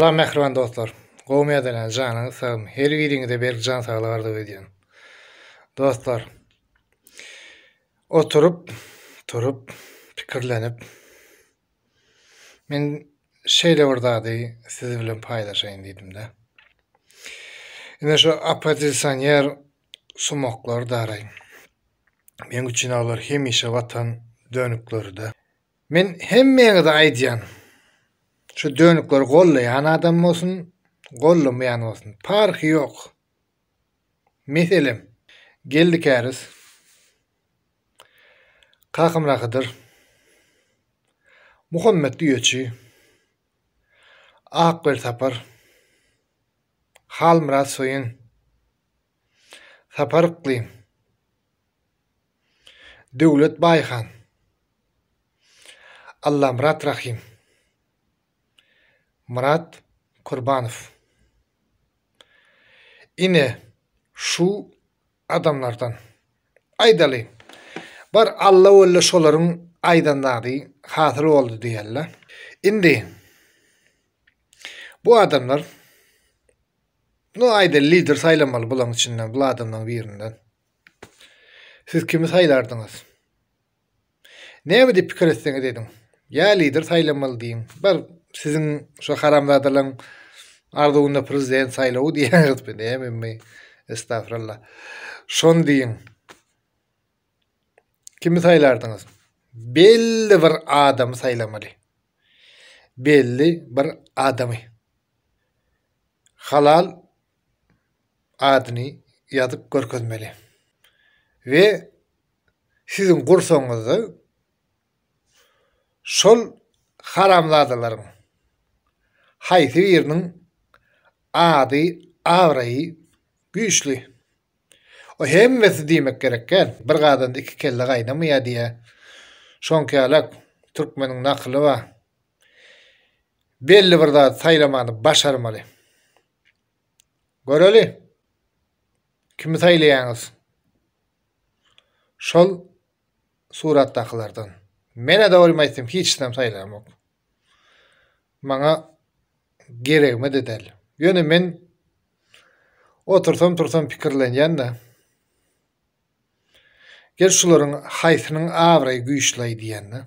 Salam mähriban dostlar. Gowy medelän janyňyz sag her biriňize berk jan saglyk arzuw edýän. Dostlar. Oturyp turup pikirlenip men şeýle bir zady siz bilen paýlaşaýyn diýdimde. Ine şu oppozisioner sumaklar daraý. Men üçin olar hemişe watan dönükleride. Men hemmäňize aýdýan. Şu dönükleri gollaýan adam bolsun, gollamaýan bolsun, parhy ýok. Meselem, Geldi Käriz, Kakamyra Hydyr, Muhammet Düýeçi, Akgöl Sapar, Halmyrat Soýun, Sapar Yklym, Döwlet Baýhan, Allamyrat Rahym, Myrat Kurbanow. Ine, şu adamlardan. Aýdaly, bir Alla wella şolaryň aýdan zady hasyl boldy diýeli. Indi bu adamlar, no aýdaly lider saýlamaly bulaň içinden, bul adamlaň birinden. Siz kimi saýlardyňyz? Näme diýip pikir etseňiz ediň. Ýa lider saýlamaly diýiň. Bir siziň şu haramzadalaryň arzuwynda prezident saýlawy diýýäňiz bu näme mi? Estagfirullah. Şony diýiň. Kimi saýlardyňyz? Belli bir adamy saýlamaly. Belli bir adamy. Halal adyny ýazyp görkezmeli we siziň gursagyňyzda şol haramzadalaryň haýsy biriniň ady, abraýy güýçli. O hemmesi diýmek gerek däl. Bir gazanda iki kelle gaýnamaýar diýýär. Şoňkalak türkmeniň nakyly bar. Belli bir zat saýlamany başarmaly. Göreli, kimi saýlaýaňyz? Şol suratdakylardan. Men-ä dogrymy aýtsam hiç kim saýlamok. Maňa geregme de däl. Ýöne men otursam tursam pikirlenýän-de. Gel şularyň haýsynyň abraýy güýçli aý diýýän-de.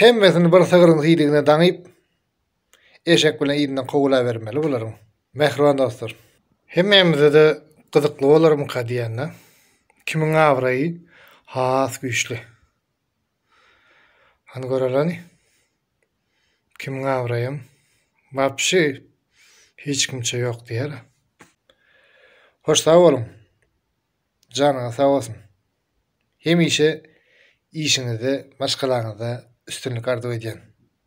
Hemmesini bir sygryň siýdigine daňyp, Eşek bilen yzyndan kowulabermeli bularyň. Mähriban dostlar. Hemmämize-de gyzykly bolarmyka diýende, kimiň abraýy has güýçli? Hany göreliň. Kimiň abraýam wapşe hiç kimçe ýok diýer. Hoş sag boluň. Janyňyz sag bolsun. Hemişe işiňizde, maşgalaňyzda üstünlik arzuw edýän.